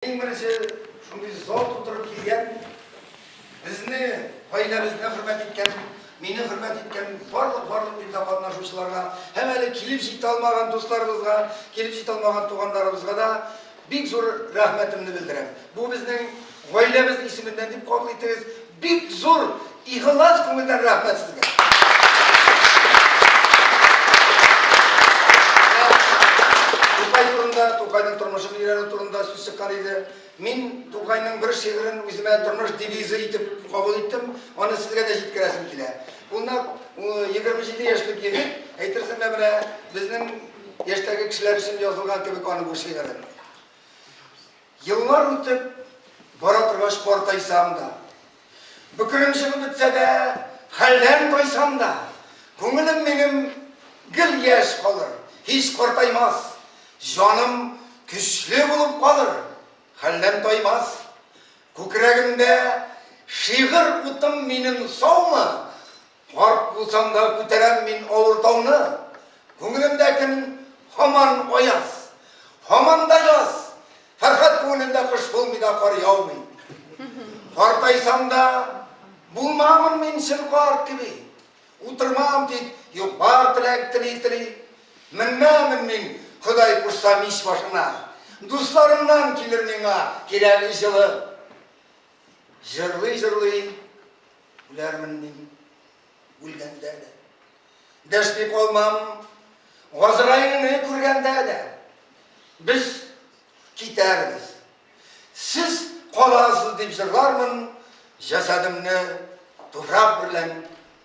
Иң беренче шундый зал тутырып килгән, безне, гаиләбезне хөрмәт иткән, мине хөрмәт иткән барлык барлык бирдә катнашучыларга һәм әле килеп җитә алмаган дусларыбызга, килеп җитә алмаган туганнарыбызга да бик зур рәхмәтемне белдерәм. Бу безнең гаиләбез исеменнән дип кабул итегез. Бик зур игылас күңелдән рәхмәт сезгә! Тукай турында, Тукайның тормышын өйрәнү турында сүз чыккан иде. Мин Тукайның бер шигырен үземә тормыш девизы итеп кабул иттем. Аны сезгә дә җиткерәсем килә. Ул нәкъ 27 яшьлек егет, әйтерсең лә менә безнең яшьтәге кешеләр өчен язылган кебек аның бу шигыре. Еллар үтеп бара торгач картайсам да, бөкрем чыгып бетсә дә, хәлдән тайсам да, күңелем минем гел яшь калыр, һич картаймас, җаным көчле булып калыр, хәлдән таймас. Күкрәгемдә шигырь утым минем саумы, Карт булсам да күтәрәм мин авыр тауны, Күңелемдә көн һаман аяз, һаман да яз, Фәрхәт күңелендә кыш булмый да кар яумый. Картайсам да булмамын мин чын карт кеби, Утырмам тик юк бар теләк тели-тели. Менмәмен мин, Ходай кушса, мич башына, Дусларымнан килер миңа кирәге җылы. Җырлый-җырлый. Үләрмен мин, үлгәндә дә. Дәшми калмам, Газраилне күргәндә дә. Без китәрбез. Сез каласыз дип җырлармын, җәсәдемне туфрак берлән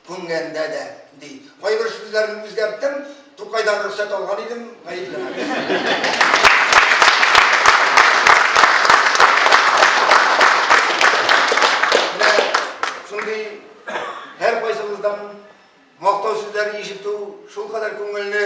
күмгәндә дә. Ди. Кайбер сүзләрен үзгәрттем, Тукайдан рөхсәт алган идем, гаепләмәгез. Менә шундый һәркайсыгыздан мактау сүзләре ишетү шулкадәр күңелне